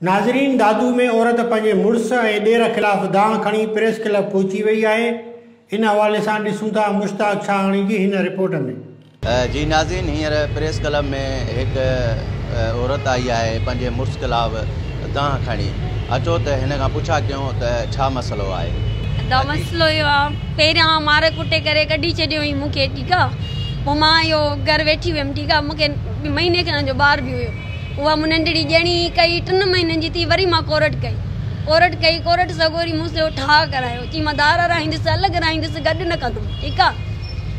ناظرين دادو ۾ عورت پنهنجي مڙس ۽ ڏير خلاف دانهن کڻي پريس ڪلب پهچي وئي آهي ان حوالي سان ڏسون ٿا مشتاق ڇاهاڻي جي هن رپورٽ ۾. جي ناظرين هينئر پريس ڪلب ۾ هڪ عورت آئي آهي پنهنجي مڙس خلاف دانهن کڻي اچو ته هن کان پڇا ڪيون ته ڇا مسئلو آهي. ادا مسئلو اهو آ پهريان مار ڪٽي ڪري ڪڍي ڇڏيو هئي مون کي ٺيڪ آ پو مان اهو گهر ويٺي هيم ٺيڪ آ مون کي مهيني کن جو ٻار به هيو. اها مون ننڍڙي ڄڻي ئي ڪئي. ٽن مهينن جي ٿي وري مان ڪورٽ ڪئي. ڪورٽ ڪئي. ڪورٽ سڳوري مون سيو ٺاهه ڪرايو. چيائين مان ڌار رائينديس، الڳ رائينديس، گڏ نه ڪندم. ٺيڪ آ.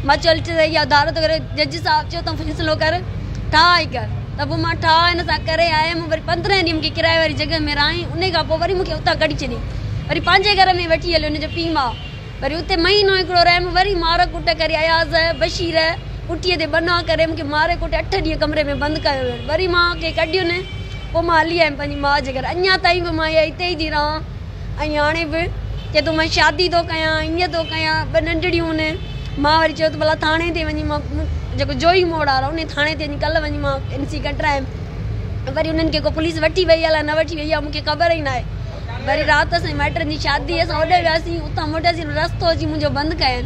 مان چيو هل ٺيڪ آ، اها ڌار ٿو ڪري. جج صاحب چيو تون فيصلو ڪر، ٺاهه ئي ڪر. ته پوء مان ٺاهه هن سان ڪري آيم. وري پندرهن ڏينهن مون کي ڪرايي واري جڳهه ۾ رهائين. انهيء کان پوء وري مون کي اتان ڪڍي ڇڏيائين. وري پنهنجي گهر ۾ وٺي هليو هن جو پيء ماء. وري اتي مهينو هڪڙو رهيم، وري مار ڪٽ ڪري اياز، بشير، پٽيء تي بناء ڪري مون کي ماري ڪٽي اٺ ڏينهن ڪمري ۾ بند ڪيو ويو. وري مان کي ڪڍين، پوء مان هلي آيم پنهنجي ماء جي گهر. اڃا تائين به مان اها اتي ئي ٿي رهان ۽ هاڻي به چئي ٿو مان شادي ٿو ڪيان، ائين ٿو ڪيان، ٻه ننڍڙيون هن. مان وري چيو ته ڀلا ٿاڻي تي وڃي مان جيڪو جوهي موڙ وارا انهي ٿاڻي تي وڃي ڪلهه وڃي مان اين سي ڪڍرايم. وري انهن کي ڪو پوليس وٺي وئي الاء نه وٺي وئي اها مون کي خبر ئي ناهي. وري رات اسان مائٽن جي شادي اسان اوڏي وياسين اتان موٽياسين رستو اچي منهنجو بند ڪين.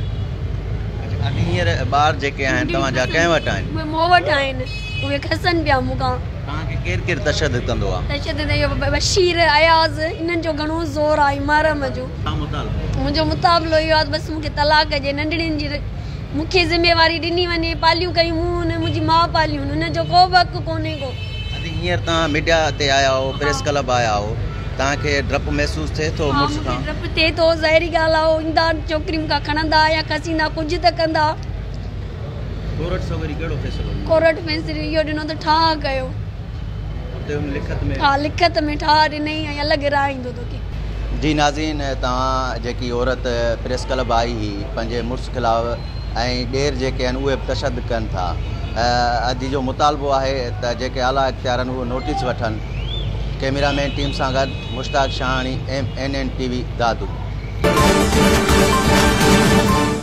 اچا اڄ هينئر ٻار جيڪي آهن توهان جا ڪنهن وٽ آهن؟ اهي مون وٽ آهن اهي کسن پيا مون کان. توهان کي ڪير ڪير تشدد ڪندو آهي؟ تشدد اهو بشير، اياز انهن جو گهڻو زور آهي محرم جو. ڇا مطالبو آهي؟ منهنجو مطابلو اهو آهي بس مون کي طلاق ڏجي ننڍڙين جي مون کي ذميواري ڏني وڃي پاليون ڪيون مون هن منهنجي ماء پاليون هن جو ڪو به حق ڪونهي ڪو. اڌي هينئر توهان ميڊيا تي آيا آهو، پريس ڪلب آيا آهو، توهان کي ڊپ محسوس ٿئي ٿو مڙس کان؟ ها مون کي ڊپ ٿئي ٿو، ظاهري ڳالهه آهي هو ايندا ڇوڪري مون کان کڻندا يا کسيندا ڪجهه ته ڪندا. ڪورٽ سويري ڪهڙو فيصلو ڏنو؟ ڪورٽ فيصلو اهو ڏنو ته ٺاهه ڪيو. اتي هن لکت ۾؟ ها لکت ۾ ٺاهه ڏنئي ۽ الڳ راء ايندو توکي. جي ناظرين توهان جيڪي عورت پريس ڪلب آئي هئي پنهنجي مڙس خلاف. ۽ ڏير جيڪي آهن اهي به تشدد ڪن ٿا اڄ جو مطالبو آهي ته جيڪي اعليٰ اختيار آهن اهي نوٽيس وٺن ڪئميرا مين ٽيم سان گڏ Mushtaq Shahani M N N T V Dadu.